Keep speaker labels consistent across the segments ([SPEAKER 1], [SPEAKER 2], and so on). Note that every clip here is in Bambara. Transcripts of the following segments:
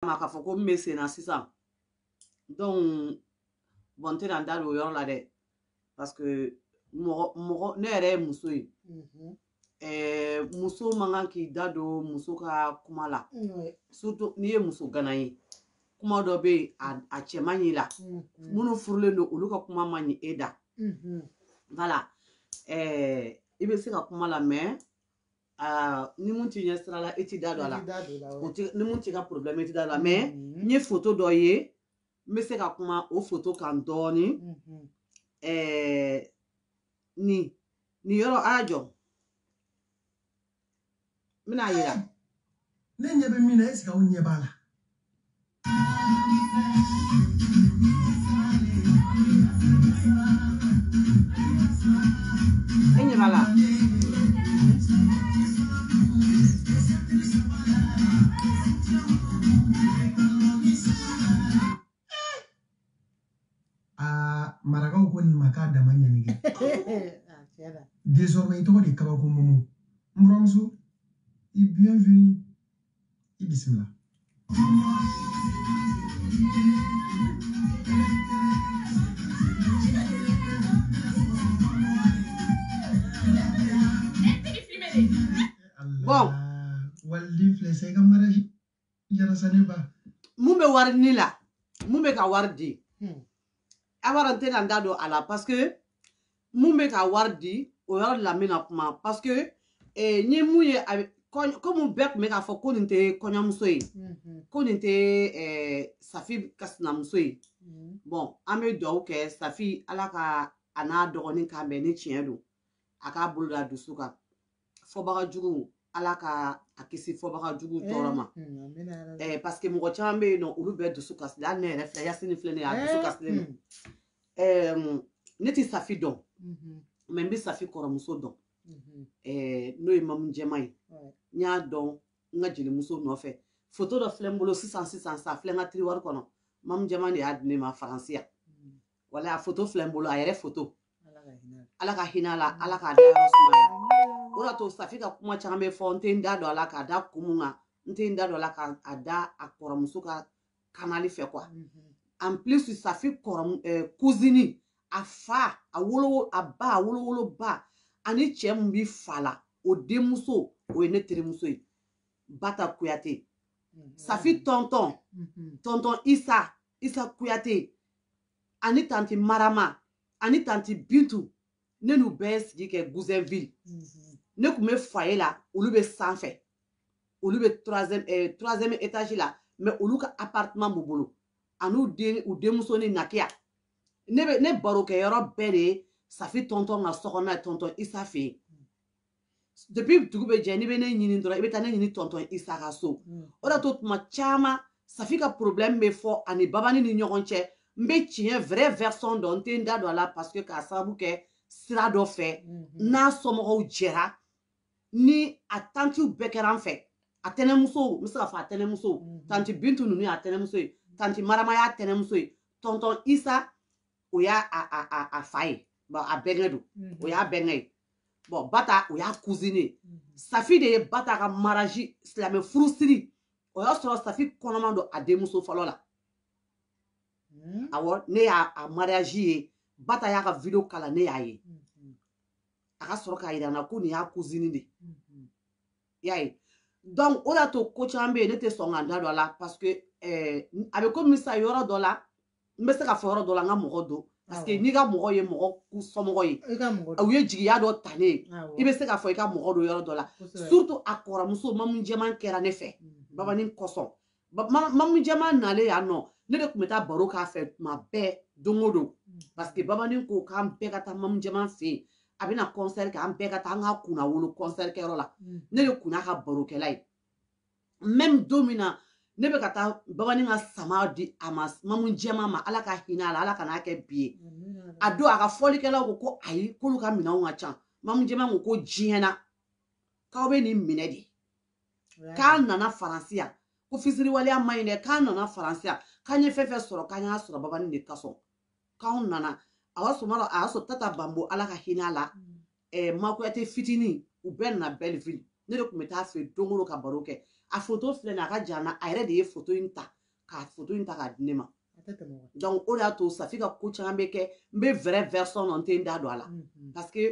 [SPEAKER 1] ma k'a fɔ ko min bɛ sen na sisan donc bon n tɛna n da don o yɔrɔ la dɛ parce que mɔgɔ mɔgɔ ne yɛrɛ ye muso ye mhm. eh, muso man kan k'i da don muso ka kuma la surtout n'i ye muso gana ye kuma dɔ bɛ yen a cɛ man ɲi la mhm. minnu furulen don olu ka kuma man ɲi e da mhm. voilà eh, i bɛ se ka kuma lamɛ aa ni mun t'i ɲɛ sira la i t'i da don a la ni mun t'i ka problème i t'i da don a la mais mm-hmm. n ye photo dɔ ye n bɛ se ka kuma o photo kan dɔɔnin mm-hmm. ɛɛ nin nin yɔrɔ a y'a jɔ n bɛn'a yira ne ɲɛ
[SPEAKER 2] bɛ min na eseke aw ɲɛ b'a la
[SPEAKER 1] e ɲɛ b'a la
[SPEAKER 2] aa marakaw ko nin ma k'a dama ɲani kɛ désormais i tɔgɔ de kabako momo n buramuso i bienvenue i bisimila
[SPEAKER 1] Bon. Waliden
[SPEAKER 2] filɛ sa i ka mariage mun bɛ wari
[SPEAKER 1] ni la mun bɛ ka wari di hmm. wala n tɛna n da don a la parce que mun bɛ ka wari di o yɔrɔ de la n bɛna kuma parce que eh, n ye mun ye a komi bɛɛ tun bɛ k'a fɔ ko nin tɛ kɔɲɔmuso ye hmm. ko nin tɛ eh, safi ka sinamuso ye hmm. bɔn an bɛ dugawu kɛ safi ala ka a n'a dɔgɔnin kan bɛn ni tiɲɛ don a k'a bolo da dusu kan fɔbaga jugu ala ka a kisi fɔbaga jugu eh, tɔɔrɔ ma eh, paseke mɔgɔ caman bɛ yen nɔ olu bɛɛ dusu kasilen hali ne yɛrɛ filɛ yasini filɛ ne y'a dusu eh, kasilen don hmm. mm, ne tɛ safi dɔn mm-hmm. mɛ n bɛ safi kɔrɔmuso dɔn mm-hmm. n'o ye mamu jɛma ye n y'a dɔn n ka jelimuso nɔfɛ foto dɔ filɛ n bolo sisan sisan a filɛ n ka tiriwari kɔnɔ mamu jɛma de y'a di ne ma faransi yan wala a foto filɛ n bolo a yɛrɛ foto ala ka hinɛ a la ala k'a dayɔrɔ sumaya o de y'a to safi ka kuma caman bɛ fɔ n tɛ n da don a la k'a da kun mun kan n tɛ n da don a la k'a da a kɔrɔmuso ka kanali fɛ kuwa en plus safi kɔrɔ eh, kuzini a fa a wolo a ba a wolowolo ba ani cɛ min bi fa la o denmuso o ye ne terimuso ye bata kuyate safi tɔntɔn tɔntɔn isa isa kuyate ani tanti marama ani tanti bintu ne n'u bɛɛ sigi kɛ goussainville mhm. ne tun bɛ foyer la olu bɛ sanfɛ olu bɛ eh, troisième étage la mais olu ka appartement b'u bolo an'u den u denmuso ni nakiya ne bɛ ne barokɛyɔrɔ bɛɛ de ye safi tɔntɔn ka sokɔnɔna ye tɔntɔn isa fɛ yen depuis dugu bɛ jɛ n'i bɛ ne ɲini dɔrɔn i bɛ taa ne ɲini tɔntɔn isa ka so mm. o de y'a to tuma caman safi ka problème bɛ fɔ a ni babani ni ɲɔgɔn cɛ n bɛ tiɲɛ vrai version dɔn n tɛ n da don a la parce que k'a sababu kɛ sira dɔ fɛ mm-hmm. n'a somɔgɔw jɛra ni a tantiw bɛɛ kɛra an fɛ a tɛnɛmusow n bɛ se k'a fɔ a tɛnɛmusow mm-hmm. tanti bintu ninnu y'a tɛnɛmuso ye tanti marama y'a tɛnɛmuso ye tɔntɔn isa o y'a a a a a fa ye a bɛnkɛ don o y'a bɛnkɛ ye bon bata o y'a cousine ye mhm. safi de ye bata ka mariage silamɛ furusiri o y'a sɔrɔ safi kɔnɔman don a denmuso fɔlɔ la mhm. awɔ ne y'a a mariage ye bata y'a ka video kala ne y'a ye mhm. a ka sɔrɔ k'a yira n na ko nin y'a cousine de y'a ye donc o y'a to ko caman bɛ yen ne tɛ sɔn ka n da don a la parce que eh, a bɛ comme ça yɔrɔ dɔ la n bɛ se k'a fɔ yɔrɔ dɔ la n ka mɔgɔ don parce que n'i ka mɔgɔ ye mɔgɔ somɔgɔ ye u ye jigiya dɔ ta ne ye i bɛ se k'a fɔ i ka mɔgɔ don yɔrɔ dɔ la surtout a kɔrɔmuso mamu jɛman kɛra ne fɛ mhm. babani kosɔn mamu jɛman nalen yan nɔ ne de tun bɛ taa baro k'a fɛ tuma bɛɛ don o don mhm. parce que babani ko k'an bɛɛ ka taa mamu jɛman fɛ yen a bɛna concert kɛ an bɛɛ ka taa an ka kunnawolo concert kɛyɔrɔ la mhm. ne de kun y'a ka barokɛla ye même don min na ne bɛ ka taa babanin ka sama di a ma mamu jɛman ma ala ka hinɛ a la ala kan'a kɛ bi ye a don a ka fɔlikɛlaw ko ko ayi k'olu ka minɛnw ka ca mamu jɛman ko ko diɲɛ na k'aw bɛ nin minɛ dɛ k'an nana faransi yan ko fisiriwaleya man ɲi dɛ k'an nana faransi yan k'an ye fɛn fɛn sɔrɔ k'an y'a sɔrɔ babanin de kosɔn k'anw nana a y'a sɔrɔ a y'a sɔrɔ tata bambo ala ka hinɛ a la mm. ɛɛ ma kuyate fitinin u bɛɛ nana belleville ne de tun bɛ taa a fɛ don o don ka baro kɛ a foto filɛ nin a ka jan n na a yɛrɛ de ye foto in ta ka foto in ta k'a di ne ma donc o de y'a to safi ka ko caman bɛ kɛ n bɛ vrai version dɔn n tɛ n da don a la mhm. parce que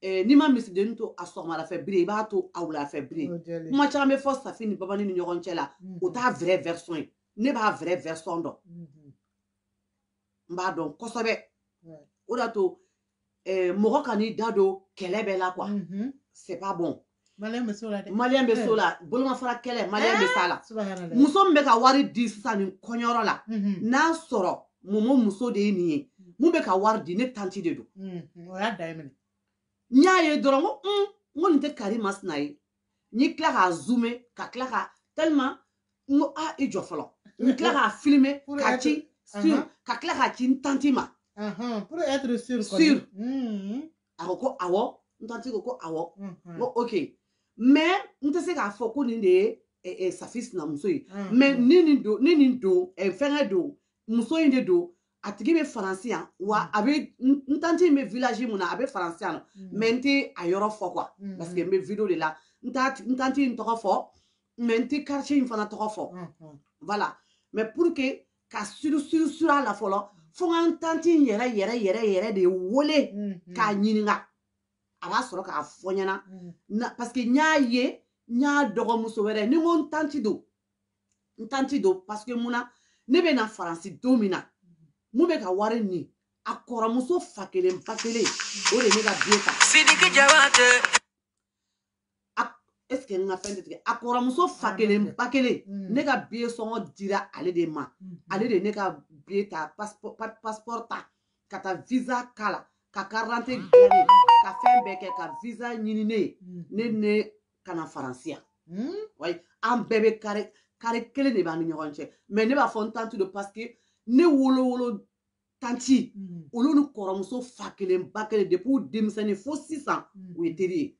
[SPEAKER 1] eh, n'i ma misidennin to a sɔgɔmada fɛ biri i b'a to a wula fɛ biri kuma caman bɛ fɔ safi ni babani ni ɲɔgɔn cɛ la o mhm. t'a vrai version ye ne b'a vrai version dɔn mhm. n b'a dɔn kosɛbɛ o de y'a to eh, mɔgɔ kan'i da don kɛlɛ bɛɛ la quoi mhm. c'est pas bon maliyɛn bɛ s'o la dɛ maliyɛn bɛ s'o la bolomafara kɛlɛ maliyɛn bɛ s'a la muso min bɛ ka wari di sisan nin kɔɲɔyɔrɔ la mhm. n'a sɔrɔ momo muso de ye nin ye mhm. min bɛ ka wari di ne tanti de don o y'a da ye minɛ n y'a ye dɔrɔn ko n ko nin tɛ karima sina ye n'i tila k'a zoome ka tila ka tellement n ko a i jɔ fɔlɔ n tila k'a filime ka ci sur ka tila k'a ci n tanti ma pour être sûr sûr a ko ko awɔ n tanti ko ko awɔ n ko ok mais n tɛ se k'a fɔ ko nin de ye eh, eh, safi sinamuso ye mais ni nin don ni nin don eh, fɛngɛ don muso in de don a tigi bɛ faransi yan wa mm. a bɛ n tanti in bɛ village mun na a bɛ faransi yan mm. mais n tɛ a yɔrɔ fɔ quoi mm. parce que n bɛ video de la n t'a n tanti in tɔgɔ fɔ mais n tɛ quartier in fana tɔgɔ fɔ voilà mais pour que ka sûr sûr sûr a la fɔlɔ fo ka n tanti in yɛrɛ yɛrɛ yɛrɛ yɛrɛ de wele k'a ɲininka a b'a sɔrɔ k'a fɔ ɲɛna parce que n y'a ye n y'a dɔgɔmuso wɛrɛ ni n ko n tanti don n tanti don parce que mun na ne bɛ na faransi don min na mun bɛ ka wari nin a kɔrɔmuso fa kelen ba kelen o de ye ne ka biye ta sidiki jabate est-ce que n ka fɛn tɛ tigɛ a kɔrɔmuso fa ah, kelen ba kelen mm. ne ka biye sɔngɔ dira ale de ma mm-hmm. ale de ne ka biye ta passeport ta ka taa visa k'a la ka karante dilan ne ka fɛn bɛɛ kɛ ka visa ɲini ne ye mm-hmm. ne ne ka na faransi yan hmm? wayi an bɛɛ bɛ kare kare kelen de b'an ni ɲɔgɔn cɛ mais ne b'a fɔ n tanti don parce que ne wolowolo tanti hmm. olu ni kɔrɔmuso fa kelen ba kelen depuis u denmisɛnnin fo sisan hmm. u ye teri ye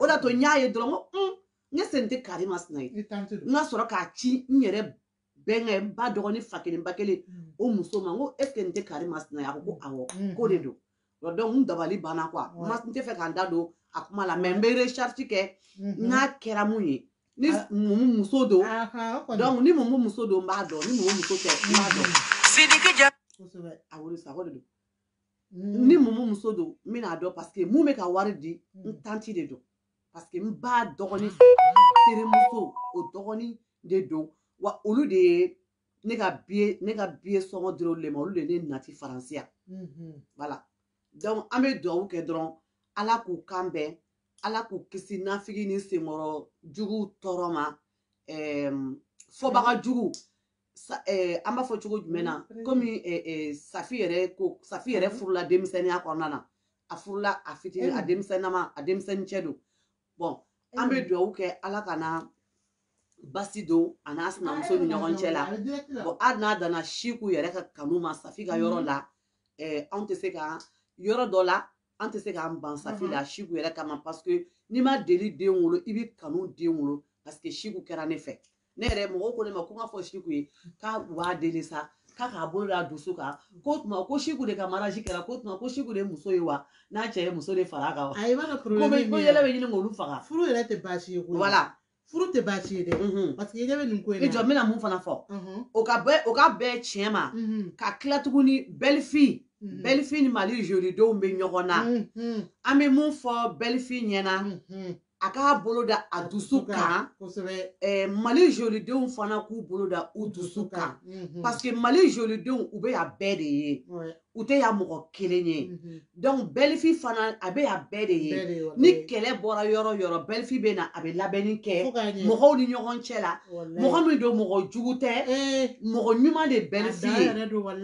[SPEAKER 1] o de y'a to n y'a ye dɔrɔn ko un est ce nin tɛ kari masina ye n ka sɔrɔ k'a ci n yɛrɛ bɛnkɛ n ba dɔgɔnin fa kelen ba kelen o muso ma n ko est ce que nin tɛ kari masina ye a ko ko awɔ k'o de don donc n dabali banna quoi n t'a fɛ ka n da don a kuma la mais n bɛ recherche kɛ mhm. n'a kɛra mun ye ni ah. mumu muso don donc ni mumu muso don n b'a dɔn ni mumu muso tɛ n b'a dɔn sidiki ja kosɛbɛ a wolo sa ko de don mhm. ni mumu muso don n bɛn'a dɔn parce que mun bɛ ka wari di n mhm. tanti de don parce que n ba dɔgɔnin terimuso o dɔgɔnin de don wa olu de ye ne ka biye ne ka biye sɔngɔ dir'olu de ma olu de ne nati faransi yan mhm. voilà donc an bɛ dugawu kɛ dɔrɔn ala k'u kan bɛn ala k'u kisi nafigi ni senkɔrɔ juguw tɔɔrɔ ma fɔbaga jugu eh, an b'a fɔ cogo jumɛn na mm-hmm. komi eh, eh, safi yɛrɛ ko safi yɛrɛ mm-hmm. furula denmisɛnninya kɔnɔna na a furula a fitinin a denmisɛnnama a denmisɛnnin cɛ don bon an bɛ dugawu kɛ ala kana basi don a n'a sinamuso ni ɲɔgɔn cɛ la bon hali n'a danna siku yɛrɛ ka kanu ma safi ka yɔrɔ la anw tɛ se ka yɔrɔ dɔ la an tɛ se k'an ban safi la siku yɛrɛ kama parce que n'i ma deli den wolo i bɛ kanu den wolo parce que siku kɛra ne fɛ ne yɛrɛ mɔgɔw ko ne ma ko n ka fɔ siku ye k'u b'a deli sa k'a k'a bolo da dusu kan ko tuma ko siku de ka mariage kɛra ko tuma ko siku de muso ye wa n'a cɛ ye muso de fara a kan wa a ye b'a ka ko yɛlɛ bɛ ɲini k'olu faga furu yɛrɛ tɛ baasi ye koyi voilà furu tɛ baasi ye dɛ mhm. parce que i ɲɛ bɛ nin ko in na i jɔ n bɛna mun fana fɔ mhm. o ka bɛɛ o ka bɛɛ tiɲɛ ma mhm. ka tila tuguni belle-fille belle-fille ni mali jolidenw bɛ ɲɔgɔn na an bɛ mun fɔ belle-fille ɲɛna a k'a bolo da a dusu kan eh, mali jolidenw fana k'u bolo da u dusu kan mhm. parce que mali jolidenw u bɛ yan bɛɛ de ye u tɛ yan mɔgɔ kelen ye mhm. donc belle-fille fana a bɛ yan bɛɛ de ye ni kɛlɛ bɔra yɔrɔ yɔrɔ belle-fille bɛ na a bɛ labɛnni kɛ mɔgɔw ni ɲɔgɔn cɛ la mɔgɔ min don mɔgɔ jugu tɛ eh. mɔgɔ ɲuman de belle-fille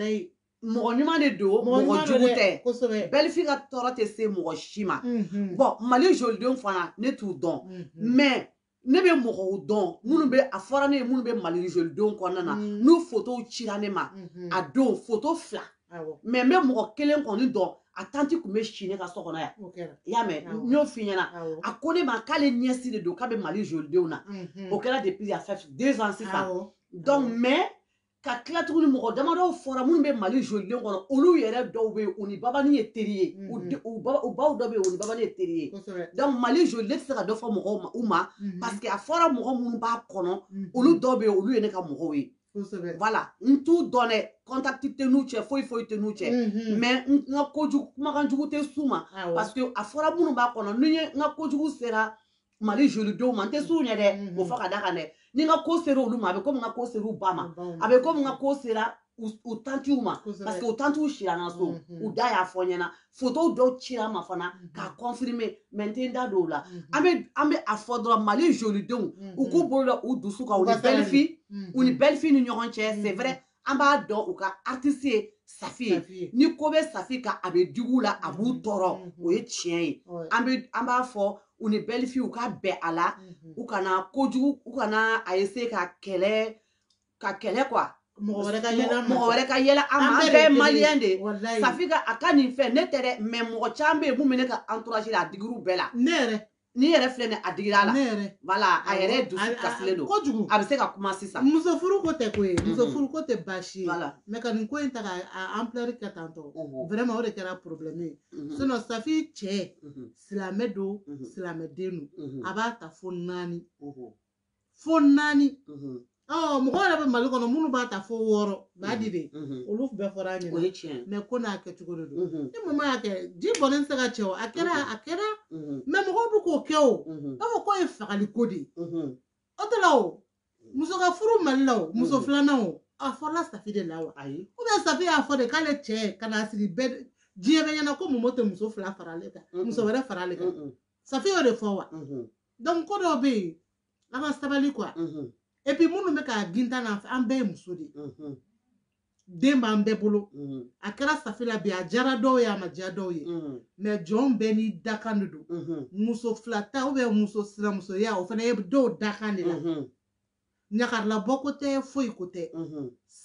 [SPEAKER 1] ye mɔgɔ ɲuman de don mɔgɔ jugu tɛ belle-fille ka tɔɔrɔ tɛ se mɔgɔ si ma mhm. bon mali jolidenw fana ne t'u dɔn mhm. mais ne bɛ mɔgɔw dɔn minnu bɛ a fɔra ne ye minnu bɛ mali jolidenw kɔnɔna na mhm. n'u fotow cira ne ma a don foto fila mais n bɛ mɔgɔ kelen kɔni dɔn a tanti tun bɛ si ne ka so kɔnɔ yan i y'a mɛn n y'o f'i ɲɛna a ko ne ma k'ale nièce de don k'a bɛ mali jolidenw na o kɛra depuis ça fait deux ans sisan donc mais ka tila tuguni mɔgɔ damadɔw fɔra minnu bɛ mali joliden kɔnɔ olu yɛrɛ dɔw bɛ yen u ni babani ye teri ye mhm. u baw dɔ bɛ yen u ni babani ye teri ye donc mali joliden tɛ se ka dɔ fɔ mɔgɔw ma mhm. parce que a fɔra mɔgɔ minnu b'a kɔnɔ mhm. olu dɔw bɛ yen olu ye ne ka mɔgɔw ye voilà n t'u dɔn dɛ contact tɛ n'u cɛ foyi foyi tɛ n'u cɛ mais n ka kojugu kumakan jugu tɛ s'u ma parce que a fɔra minnu b'a kɔnɔ ni n ka kojugu sera mali jolidenw ma n tɛ s'u ɲɛ dɛ mm-hmm. o fɔ ka da kan dɛ ni n ka ko sera olu ma a bɛ komi n ka ko sera u ba ma a bɛ komi n ka ko sera u tantiw ma parce que u tantiw sira n ka so mm-hmm. u da y'a fɔ n ɲɛna fotow dɔw cira n ma fana mm-hmm. k'a confirmer mais n tɛ n da don o la an bɛ an bɛ a fɔ dɔrɔn mali jolidenw u k'u bolo da u dusu kan u ni belle-fille u ni belle-fille ni ɲɔgɔn cɛ c'est vrai an b'a dɔn u ka artiste ye safi ye Safi ye. ni ko bɛ safi kan a bɛ digi u la a b'u tɔɔrɔ Mhm. o ye tiɲɛ ye Ouais. an bɛ an b'a fɔ u ni belle-fille u ka bɛn a la Mhm. u kana kojugu u kana a essayer ka kɛlɛ ka kɛlɛ quoi mɔgɔ wɛrɛ ka yɛlɛ an ma. mɔgɔ wɛrɛ ka yɛlɛ an ma an bɛɛ de bɛɛ ye ye kelen maliyɛn de ye Walayi. safi ka a ka nin fɛn ne tɛ dɛ mais mɔgɔ caman bɛ yen min bɛ ne ka entourage la a digir'u bɛɛ la ne yɛrɛ nin yɛrɛ filɛ nin a digira a la voilà a yɛrɛ dusu kasilen don kojugu a bɛ se ka kuma sisan muso furu ko tɛ ko ye
[SPEAKER 3] mhm. muso furu ko tɛ baasi ye voilà mais ka nin ko in ta ka ampleur kɛ tan tɔ vraiment o de kɛra problème ye mhm. sinon safi cɛ mhm. silamɛ don silamɛ den don a b'a ta fo naani fo naani mhm. mɔgɔ yɛrɛ bɛ mali kɔnɔ minnu b'a ta fo wɔɔrɔ b'a di de mhm, mhm. olu bɛɛ fɔra an ɲɛna mais ko n'a kɛcogo de don ni mama y'a kɛ ji bɔnnen tɛ se ka cɛ o a kɛra a kɛra mais mɔgɔw bɛ k'o kɛ i b'a fɔ k'o ye fagali ko de ye o tɛ la o muso ka furu mali la o muso filanan o a fɔra safi de la wa ou bien safi y'a fɔ de k'ale cɛ ka n'a sigi bɛɛ diɲɛ bɛɛ ɲɛna ko momo tɛ muso fila fara ale kan muso wɛrɛ fara ale kan safi y'o de fɔ wa donc ko dɔw bɛ yen an ka sabali quoi et puis minnu bɛ k'a gintan na an bɛɛ ye muso de ye den b'an bɛɛ bolo a kɛra safi la bi a diyara dɔw ye a ma diya dɔw ye mais jɔn bɛɛ ni dakan de don muso fila ta ou bien muso sinamusoya o fana ye dɔw dakan de la ɲagarilabɔ ko tɛ foyi ko tɛ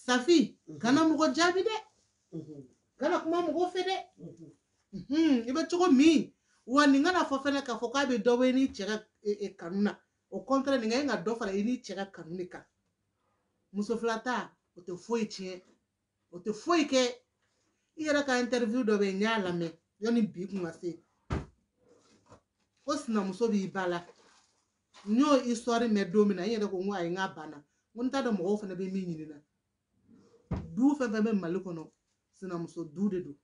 [SPEAKER 3] safi kana mɔgɔ jaabi dɛ kana kuma mɔgɔ fɛ dɛ i bɛ cogo min wa nin kana fɔ fɛnɛ k'a fɔ k'a bɛ dɔ bɔ i n'i cɛ ka e, e, kanu na au contraire nin ka ɲi ka dɔ fara i n'i cɛ ka kanu de kan muso fila ta o tɛ foyi tiɲɛ o tɛ foyi kɛ i yɛrɛ ka interview dɔ bɛ yen n y'a lamɛn yanni bi kun ka se ko sinamuso b'i ba la n y'o histoire mɛn don min na n yɛrɛ ko n ko ayi n k'a banna n ko n t'a dɔn mɔgɔw fana bɛ min ɲini na du fɛn fɛn bɛ mali kɔnɔ sinamuso du de don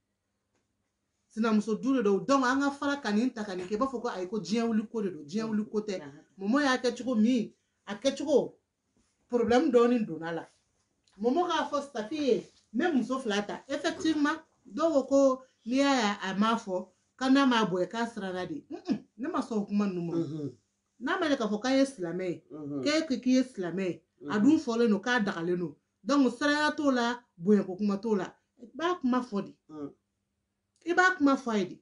[SPEAKER 3] sinamuso du de don donc an ka fara ka nin ta ka nin kɛ i b'a fɔ ko ayi ko diɲɛ wuli ko de don diɲɛ wuli ko tɛ momo y'a kɛ cogo min a kɛcogo problème dɔɔnin donna la momo k'a fɔ safi ye n bɛ muso fila ta effectivement dɔw ko ko n'i y'a ye a m'a fɔ k'a n'a m'a bonya k'a siranna de ne ma sɔn o kuma ninnu ma mhm. n'a ma k'a fɔ k'a ye silamɛ ye mhm. k'e ko k'i ye silamɛ ye a mhm. dun fɔlen don k'a dagalen don donc siranya t'o la bonyako kuma t'o la i b'a kuma fɔ de i b'a kuma fɔ a ye de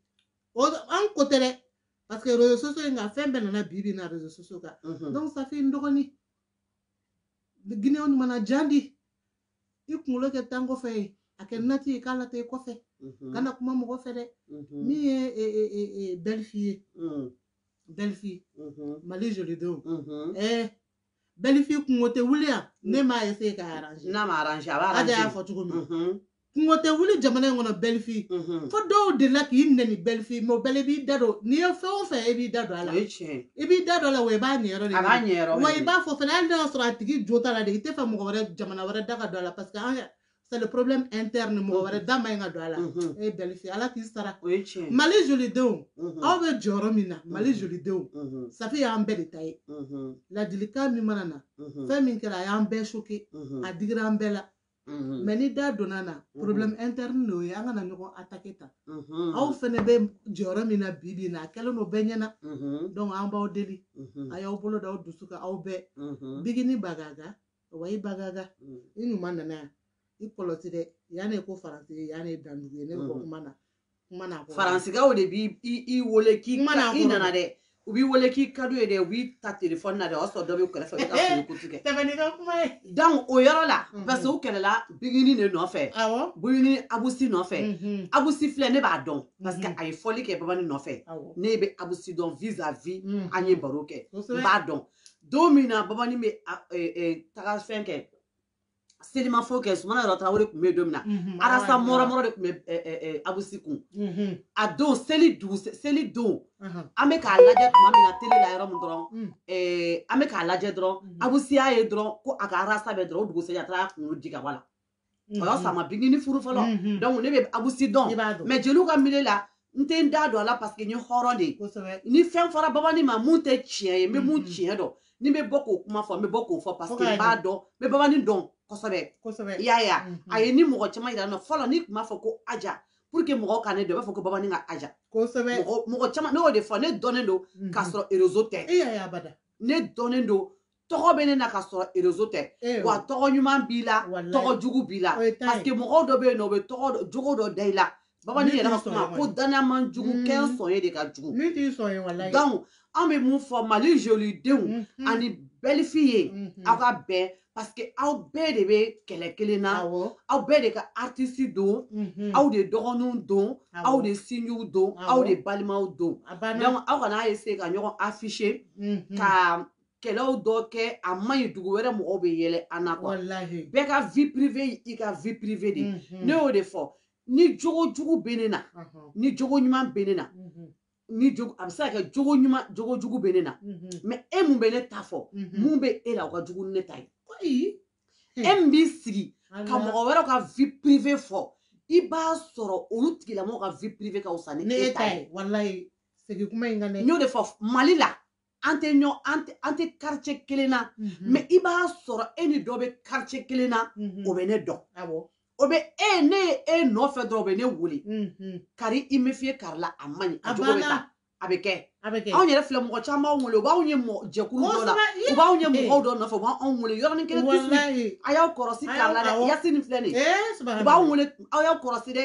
[SPEAKER 3] o an ko tɛ dɛ parce que réseaux sociaux in kan fɛn bɛɛ nana bi bi in na réseaux sociaux kan mhm. donc safi n dɔgɔnin guinéen mana jan di i kunkolo kɛ tan kɔfɛ ye a kɛ nati ye k'a lata i kɔfɛ mhm. kana kuma mɔgɔ fɛ dɛ mhm. min ye e, e, e, belle-fille ye belle-fille mali jolidenw ɛɛ belle-fille kunko tɛ wuli yan ne m'a essayer k'a arranger n'a ma arranger a b'a arranger
[SPEAKER 1] a y'a fɔ cogo min mhm.
[SPEAKER 3] kunko tɛ wuli jamana in kɔnɔ belle-fille mhm. fo dɔw delila k'i nɛni belle-fille mais o bɛɛ la i b'i da don n'i ye fɛn o fɛn i b'i da don a la i b'i da don a la wa i b'a ɲɛyɔrɔ de wa i b'a fɔ fana hali n'a y'a sɔrɔ a tigi jo t'a la de i t'a fɛ mɔgɔ wɛrɛ jamana wɛrɛ da ka don a la parce que an c'est le problème interne mɔgɔ wɛrɛ da man ɲi ka don a la e ye belle-fille ala k'i sara mali jolidenw aw bɛ jɔyɔrɔ min na mali jolidenw safi y'an bɛɛ de ta ye ladilikan min mana na fɛn min kɛra a y'an bɛɛ choqué a digira an bɛɛ la mais n'i da donna na problème interne de ye an kana ɲɔgɔn attaquer tan aw fɛnɛ bɛ jɔyɔrɔ min na bi bi na a kɛlen don bɛɛ ɲɛna donc an b'aw deli a y'aw bolo da aw dusu kan aw bɛɛ bigini bagaga wa i bagaga i ɲuman nana yan i kɔlɔsi dɛ yan ne ko faransi ye yan ne dandugu ye ne ko kuma na kuma na faransigaw de b'i
[SPEAKER 1] i wele k'i mana i nana dɛ u b'i wele k'i ka d'u ye dɛ u b'i ta telefɔni na dɛ o y'a sɔrɔ dɔ bɛ kɛrɛfɛ i ka fini kutu kɛ tɛmɛni ka kuma
[SPEAKER 3] ye donc o yɔrɔ
[SPEAKER 1] la parce que u kɛlɛla bigini de nɔfɛ awɔ bigini abusi nɔfɛ abusi filɛ ne b'a dɔn parce que a ye fɔli kɛ babani nɔfɛ ne bɛ abusi dɔn vis-à-vis an ye baro kɛ n b'a dɔn don min na babani bɛ taga fɛn kɛ selimafo kɛ sumana yɔrɔ tarawele tun bɛ yen don min na mhm, arasa mɔrɔmɔrɔ de tun bɛ abusi kun mhm. a don seli dugu seli don mhm. an bɛ k'a lajɛ tuma min na tele la yɔrɔ min dɔrɔn mm. an bɛ k'a lajɛ dɔrɔn abusi y'a ye dɔrɔn ko a ka arasa bɛ dɔrɔn o dugusɛjɛ a taara kunkolo di ka bɔ a la o y'a sɔrɔ a ma bigini furu fɔlɔ mm-hmm. donc ne bɛ abusi dɔn mais jeliw ka milieu la n tɛ n da don a la parce que n ye hɔrɔn de ye ni fɛn fɔra babani ma mun tɛ tiɲɛ ye n bɛ mun mm-hmm. tiɲɛ dɔn ni n bɛ bɔ k'o kuma fɔ n bɛ bɔ k'o fɔ parce que n b'a dɔn n bɛ babani dɔn kosɛbɛ kosɛbɛ i y'a ye a mm-hmm. a ye ni mɔgɔ caman yira n na fɔlɔ n'i tun b'a fɔ ko aja pour que mɔgɔw ka ne dɔn i b'a fɔ ko babani ka aja kosɛbɛ mɔgɔ caman ne y'o de fɔ ne dɔnnen don k'a sɔrɔ réseau tɛ ne dɔnnen don tɔgɔ bɛ ne na k'a sɔrɔ réseau tɛ eh, wa tɔgɔ ɲuman b'i la tɔgɔ jugu b'i la parce que mɔgɔw dɔ bɛ yen n'o bɛ tɔgɔ jogo dɔ da i la babani yɛrɛ ka kuma ko da n na man jugu mm. kɛ n sɔn ye de ka jugu donc an bɛ mun fɔ mali jolidenw mm-hmm. ani belle-fille ye mm-hmm. aw ka bɛn parce que aw bɛɛ de bɛ kɛlɛ kelen na aw bɛɛ de ka artiste don mm-hmm. aw de dɔgɔninw don aw de sinjiw don aw de balimaw don donc aw kana essayer ka ɲɔgɔn afficher ka kɛlɛw dɔ kɛ a man ɲi dugu wɛrɛ mɔgɔw bɛ yɛlɛ an na quoi bɛɛ ka vie privée i ka vie privée de mhm. ne y'o de fɔ ni jogo jugu bɛ ne na ni jogo ɲuman bɛ ne na mhm. ni jogo a bɛ se ka kɛ jogo ɲuman jogo jugu bɛ ne na mhm. mais e mun bɛ ne ta fɔ mun bɛ e la o ka jugu ni ne ta ye e min b'i sigi ka mɔgɔ wɛrɛw ka vie privée fɔ i b'a sɔrɔ olu tigilamɔgɔw ka vie privée ka fisa ni e ta ye. ni e ta ye walayi segin kuma in kan ne. n y'o de fɔ mali la. an tɛ ɲɔ an tɛ an tɛ quartier kelen na mais i b'a sɔrɔ e ni dɔ bɛ quartier kelen na o bɛ ne dɔn o bɛ e ne ye e nɔfɛ dɔrɔn o bɛ ne wele kari i méfier kari la a man ɲi a jogo bɛ taa a bɛ kɛ anw yɛrɛ filɛ mɔgɔ caman b'anw wele u b'anw ye jɛkulu dɔ la u b'anw ye mɔgɔ dɔ nɔfɛ u b'anw wele yɔrɔnin kelen a y'aw kɔrɔsi kari la dɛ yasini filɛ nin ye u b'anw wele aw y'aw kɔrɔsi dɛ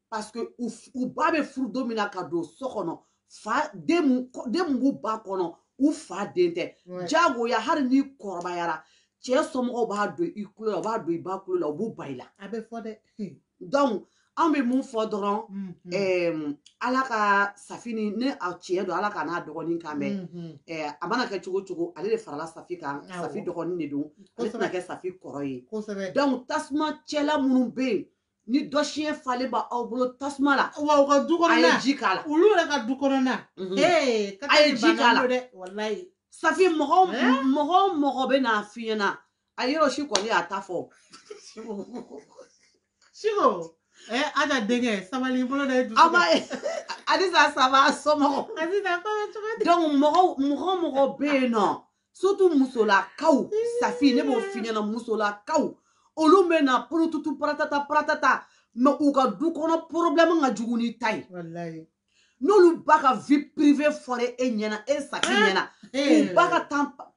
[SPEAKER 1] parce que u u ba bɛ furu don min na ka don so kɔnɔ fa den mun den mun b'u ba kɔnɔ u fa den tɛ jagoya hali n'i kɔrɔbayara cɛ somɔgɔw b'a don i kulo la u b'a don i ba kulo la u b'u ban i la a bɛ fɔ dɛ donc anw bɛ mun fɔ dɔrɔn ɛɛ ala ka safi ni ne a tiɲɛ don ala k'a n'a dɔgɔnin kan bɛn ɛɛ a mana kɛ cogo o cogo ale de farala safi kan safi dɔgɔnin de don ale tɛna kɛ safi kɔrɔ ye donc tasuma cɛla minnu bɛ yen ni dɔ siɲɛ falen b'aw bolo tasuma la wa u ka du kɔnɔna a ye ji k'a la olu yɛrɛ ka du kɔnɔna mhm. ee a ye ji k'a la dɛ walayi safi mɔgɔ o mɔgɔ bɛ n'a f'i ɲɛna a yɔrɔ si kɔni y'a ta fɔ siko ɛ aja denkɛ sabali bolo da ye dusu ama alisa saba somɔgɔ alisa kɔnɔ cogo di donc mɔgɔ o mɔgɔ bɛ yen nɔ surtout musolakaw safi ne b'o f'i ɲɛna musolakaw olu bɛ na porotutu paratata paratata mais u ka du kɔnɔ problème ka jugu n'i ta ye n'olu ba ka vie privée fɔra e ɲɛna e safi ah! ɲɛna eh! u ba ka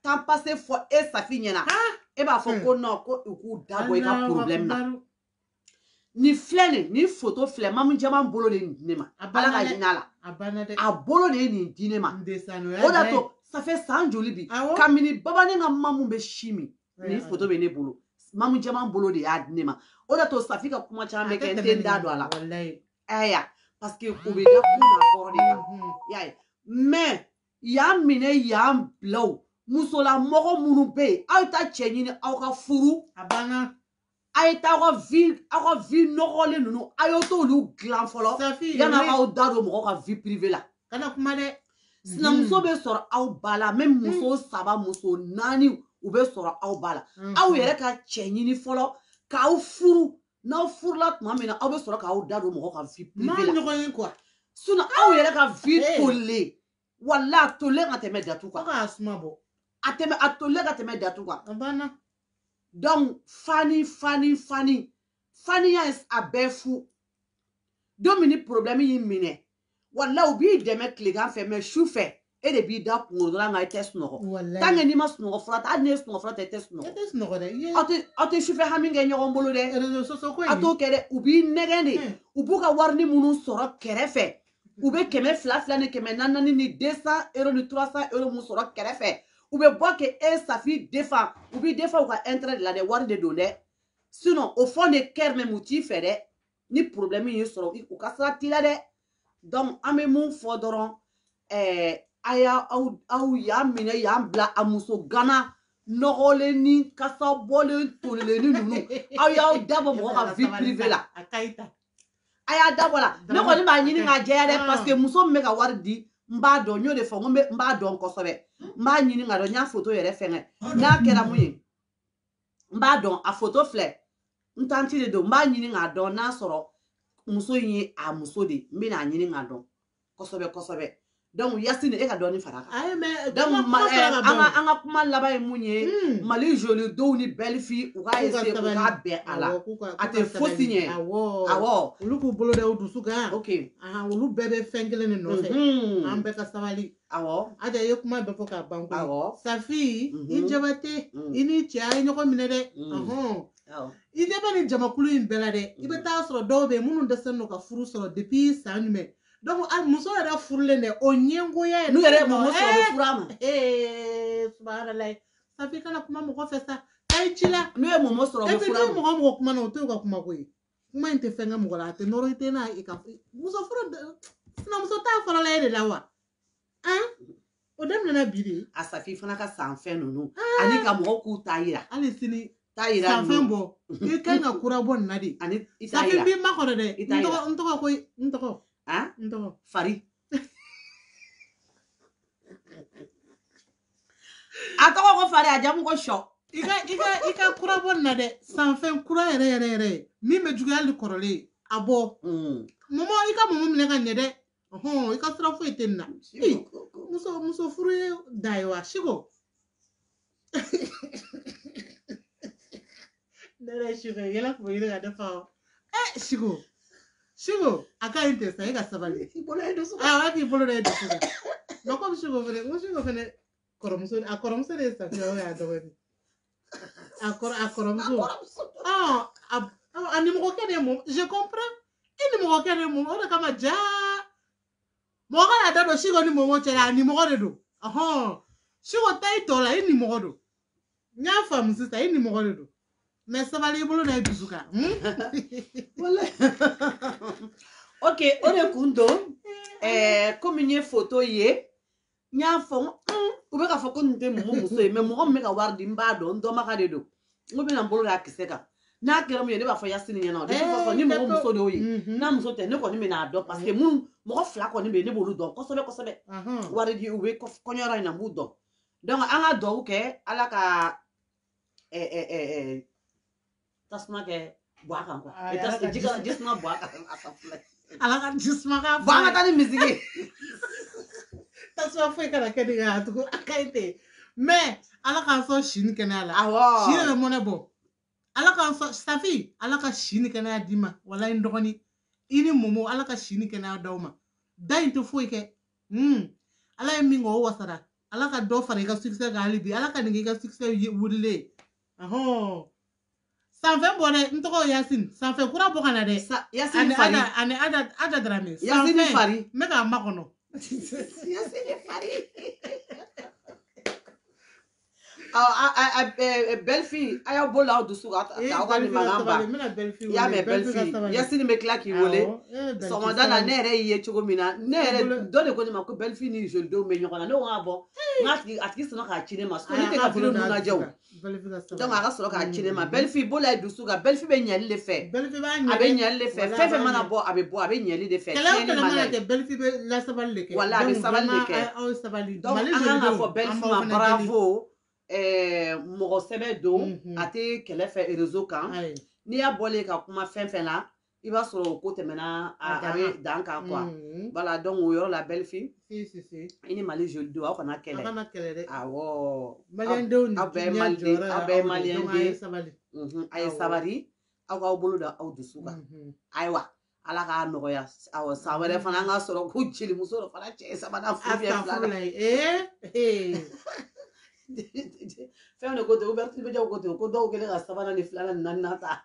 [SPEAKER 1] temps passé fɔ e safi ɲɛna ah! e b'a fɔ ko non ko u k'u da bɔ i ka problème na nin filɛ nin nin foto filɛ mamu jama bolo de nin di ne ma ala ka hinɛ a la a bolo de ye nin di ne ma o d'a to ça fait san joli bi kabini babani ka mamu bɛ sin min nin foto bɛ ne bolo mamu jama bolo de y'a di ne ma o d'a to safi ka kuma caman bɛ kɛ n tɛ n da don a la ɛya parce que o bɛ da kun na kɔrɔ de kan y'a ye mais y'an minɛ y'an bila o musolamɔgɔ minnu bɛ yen aw ye taa cɛ ɲini aw ka furu a banna a ye taa aw ka vie aw ka vie nɔgɔlen ninnu a ye t'olu dilan fɔlɔ yanni aw k'aw da don mɔgɔw ka vie privée la kana kuma dɛ sinamuso bɛ sɔrɔ aw ba la même muso saba muso naani u bɛ sɔrɔ aw ba la aw yɛrɛ ka cɛ ɲini fɔlɔ k'aw furu n'aw furula tuma min na aw bɛ sɔrɔ k'aw da don mɔgɔ ka vie privée la aw yɛrɛ ka vie tolilen wala a tolen ka tɛmɛ datu kan a suma bɔ a tɛmɛ a tolen ka tɛmɛ datu kan a banna donc fani fani fani faniya a bɛɛ fu don min ni problème y'i minɛ wala u b'i dɛmɛ tilegan fɛ mais su fɛ e de b'i da kunkolo dɔrɔn kan i tɛ sunɔgɔ tant que n'i ma sunɔgɔ fura ta hali n'i ye sunɔgɔ fura ta i tɛ sunɔgɔ e tɛ sunɔgɔ dɛ aw tɛ aw tɛ sufɛ hami kɛ ɲɔgɔn bolo dɛ a t'o kɛ dɛ u b'i nɛgɛn de u b'u ka warini minnu sɔrɔ kɛrɛfɛ u bɛ kɛmɛ fila fila ni kɛmɛ naani ni deux cent euro ni trois cent euro mun sɔrɔ kɛrɛfɛ u bɛ bɔ ka e safi défend u b'i défend u ka intérêt de la dɛ wari de don dɛ sinon au fond de cœur même u t'i fɛ dɛ ni problème y'i sɔrɔ u ka sira t'i la dɛ donc an bɛ min fɔ dɔrɔn ɛɛ a y'a aw aw y'an minɛ y'an bila a muso gana nɔgɔlen ni kasa bɔlen tolilen ni ninnu aw y'aw dabɔ mɔgɔ ka vie privée la. a y'a dabɔ la ne kɔni b'a ɲini k'a jɛya dɛ paseke muso min bɛ ka wari di n b'a dɔn n y'o de fɔ n b'a dɔn kosɛbɛ n b'a ɲini k'a dɔn n y'a foto yɛrɛ fɛngɛ n'a kɛra mun ye n b'a dɔn a foto filɛ n tanti de don n b'a ɲini k'a dɔn n'a sɔrɔ muso in ye a muso de ye n bɛna a ɲini k'a dɔn kosɛbɛ kosɛbɛ donc yasini e ka dɔɔni fara kan ayi mais donc an ka an ka kuma laban ye mun ye hmm. mali jolie den ni belle fille u ka essayer u ka bɛn a la a tɛ fosi ɲɛ awɔ olu k'u bolo da
[SPEAKER 3] u dusu kan ok
[SPEAKER 1] olu bɛɛ bɛ
[SPEAKER 3] fɛn kelen de nɔfɛ mhm. an bɛɛ ka sabali awɔ ada ye
[SPEAKER 1] kuma bɛɛ fɔ
[SPEAKER 3] k'a ban ko awɔ safi i mhm. jabate mhm. i ni cɛ a ye ɲɔgɔn minɛ dɛ i ɲɛ bɛ nin jamakulu in bɛɛ la dɛ i bɛ mm. taa sɔrɔ dɔw bɛ yen minnu dɛsɛlen don ka furu sɔrɔ depuis san jumɛn donc a muso yɛrɛ furulen dɛ o ɲɛngoya yɛrɛ n'u yɛrɛ mɔgɔ sɔrɔ bɛ
[SPEAKER 1] furu a ma
[SPEAKER 3] subahanalayi safi kana kuma mɔgɔ fɛ sa a ye ci la n'u ye mɔmɔ sɔrɔ bɛ furu
[SPEAKER 1] a ma n'u ye mɔgɔ mɔgɔ kuma na o t'u ka
[SPEAKER 3] kuma ko ye kuma in tɛ fɛn kɛ mɔgɔ la a tɛ nɔrɔ i tɛ n'a ye ka muso furu sinamuso ta fɔlɔla e de la wa o daminɛna bi de a safi fana ka
[SPEAKER 1] san fɛn ninnu ani ka mɔgɔw k'u ta yira hali sini
[SPEAKER 3] ta yira san fɛn
[SPEAKER 1] bɔ i
[SPEAKER 3] kan ka kura bɔ nin na de ani i ta yira safi b'i
[SPEAKER 1] makɔnɔ dɛ i ta
[SPEAKER 3] yira n tɔgɔ ko n tɔgɔ a n tɔgɔ fari
[SPEAKER 1] a tɔgɔ ko fari a jamu ko sɔ i ka i ka i
[SPEAKER 3] ka kura bɔ nin na dɛ san fɛn kura yɛrɛ yɛrɛ yɛrɛ min bɛ juguya hali kɔrɔlen a bɔ mɔmɔ i ka mɔmɔ minɛ ka ɲɛ dɛ hɔn i ka sira foyi tɛ nin na muso muso furu ye da ye wa siko ne yɛrɛ siko yɛlɛ kun bɛ ɲini ka ne fa o ɛ siko siko a ka ɲi tɛ sa e ka sabali i bolo ye dusu awɔ k'i bolo da e dusu kan mɛ komi siko fɛnɛ n ko siko fɛnɛ kɔrɔmuso a kɔrɔmuso de ye safiya o y'a dɔgɔnin A kɔrɔ a kɔrɔmuso. Ɔn a a nimɔgɔkɛ de ye Mɔmɔ je comprends. E nimɔgɔkɛ de ye Mɔmɔ o de kama jaa. Mɔgɔ kana da don Siko ni Mɔmɔ cɛ la a nimɔgɔ de don. Ɔhɔn. Siko ta i tɔ la i nimɔgɔ don. N y'a faamu sisan i nimɔgɔ de don. Mais sabali i bolo da i dusu kan.
[SPEAKER 1] Hmm? Walayi. Ok o de kun don. Eh, komi n ye foto ye n y'a fɔ n ko u bɛ k'a fɔ ko nin tɛ mɔmɔ muso ye mais mɔgɔ min bɛ ka wari di n b'a dɔn n dɔnbaga de don n ko bɛna n bolo d'a kisɛ kan n'a kɛra min ye ne b'a fɔ yasini ɲɛna o de b'a fɔ ni mɔgɔ muso d'o ye n'a muso tɛ ne kɔni bɛna a dɔn parce que minnu mɔgɔ fila kɔni bɛ yen ne b'olu dɔn kosɛbɛ kosɛbɛ wari di u bɛ kɔɲɔyɔrɔ in na n b'u dɔn donc an ka duwawu kɛ ala ka tasuma kɛ bɔ a
[SPEAKER 3] kan jisuma bɔ a kan a ka filɛ ala ka jisuma ka bɔ an ka taa ni
[SPEAKER 1] misiki tasuma
[SPEAKER 3] foyi kana kɛ nin kan tugun a ka ɲi ten mais ala k'an sɔn si ni kɛnɛya la si de bɛ mɔnɛ bɔ ala k'an sɔn safi ala ka si ni kɛnɛya d'i ma walayi n dɔgɔnin i ni mɔmɔ ala ka si ni kɛnɛya d'aw ma da in tɛ foyi kɛ hmm. ala ye min kɛ o wasara ala ka dɔ fara i ka succès kan hali bi ala ka nin k'i ka succès wulilen sanfɛ bɔ dɛ n tɔgɔ yasin sanfɛ kura bɔ ka na dɛ yasin
[SPEAKER 1] fari ani ada
[SPEAKER 3] ada darame yasin fari n bɛ
[SPEAKER 1] k'a makɔnɔ
[SPEAKER 3] yasin
[SPEAKER 1] fari belle fille a y'aw bolo da aw dusu kan aw ka nin mankan ban i y'a mɛn belle fille yasini n bɛ tila k'i wele sɔgɔmada la ne yɛrɛ y'i ye cogo min na ne yɛrɛ dɔ de ko ne ma ko belle fille ni joli den bɛ ɲɔgɔn na ne ko k'a bɔ n ka tigi a tigi sɔnna k'a ci ne ma so ne tɛ ka vidéo ninnu lajɛ o donc a ka sɔrɔ k'a ci ne ma belle fille bolo da i dusu kan belle fille bɛ ɲɛli de fɛ a bɛ ɲɛli de fɛ fɛn fɛn mana bɔ a bɛ bɔ a bɛ ɲɛli de fɛ tiɲɛni man d'a ye belle
[SPEAKER 3] fille bɛ lasabali de kɛ wala a bɛ sabali de
[SPEAKER 1] kɛ donc an kan k'a fɔ belle fille ma bravo eh, mɔgɔ sɛbɛ don mhm. a tɛ kɛlɛ fɛ réseau kan n'i y'a bɔlen ka kuma fɛn fɛn na i b'a sɔrɔ o ko tɛmɛna a dan kan quoi voilà donc o yɔrɔ la belle fille i ni mali joli den aw kana kɛlɛ kana kɛlɛ dɛ awɔ malidenw aw bɛɛ ye maliden aw bɛɛ ye maliden a ye sabali a ye sabali aw k'aw bolo da aw dusu kan ayiwa ala k'a nɔgɔya awɔ san wɛrɛ fana an ka sɔrɔ ko jelimuso dɔ fana cɛ sabanan furu bɛ fila la fɛn de ko ten ko dɔw ko ten ko dɔw kɛlen ka sabanan ni filanan ni naaninan ta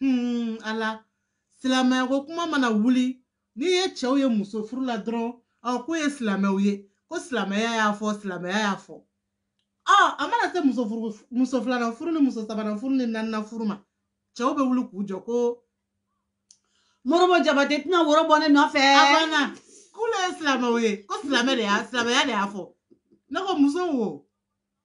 [SPEAKER 3] hmm, ala silamɛyako kuma mana wuli n'i ye cɛw ye muso furu la dɔrɔn ɔ k'u ye silamɛw ye ko silamɛya y'a fɔ silamɛya y'a fɔ ɔ a mana se muso furu muso filanan furu ni muso sabanan furu ni naaninan furu ma cɛw bɛ wuli k'u jɔ
[SPEAKER 1] ko morobo jabate tɛna woro bɔ ne nɔfɛ a banna
[SPEAKER 3] k'olu ye silamɛw ye ko silamɛ de y'a silamɛya de y'a fɔ ne ko muso wo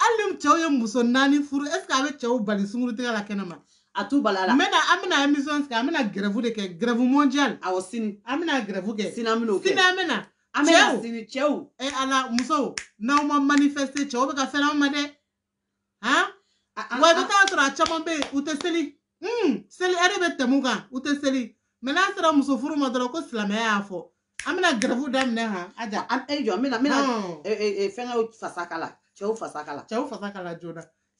[SPEAKER 3] hali ni cɛw ye muso naani furu est ce que a bɛ cɛw bali sungurutigɛ la kɛnɛma a t'u bali a la n
[SPEAKER 1] bɛna an bɛna émission
[SPEAKER 3] sigi an bɛna grève de kɛ grève mondiale awɔ sini an bɛna
[SPEAKER 1] grève kɛ
[SPEAKER 3] sini an bɛna o kɛ sini an
[SPEAKER 1] bɛna an
[SPEAKER 3] bɛna sini
[SPEAKER 1] cɛw e ala
[SPEAKER 3] musow n'aw ma manifester cɛw bɛ ka fɛn an ma dɛ han wa i bɛ taa sɔrɔ a caman bɛ yen u tɛ seli un seli ɛri bɛ tɛmɛ u kan u tɛ seli mɛ n'a sera muso furu ma dɔrɔn ko silamɛya y'a fɔ an bɛna gɛrɛfu daminɛ han a ja an e jɔ n
[SPEAKER 1] bɛna n bɛna fɛnkɛw fasa
[SPEAKER 3] kala
[SPEAKER 1] cɛw fasa kala cɛw fasa kala joona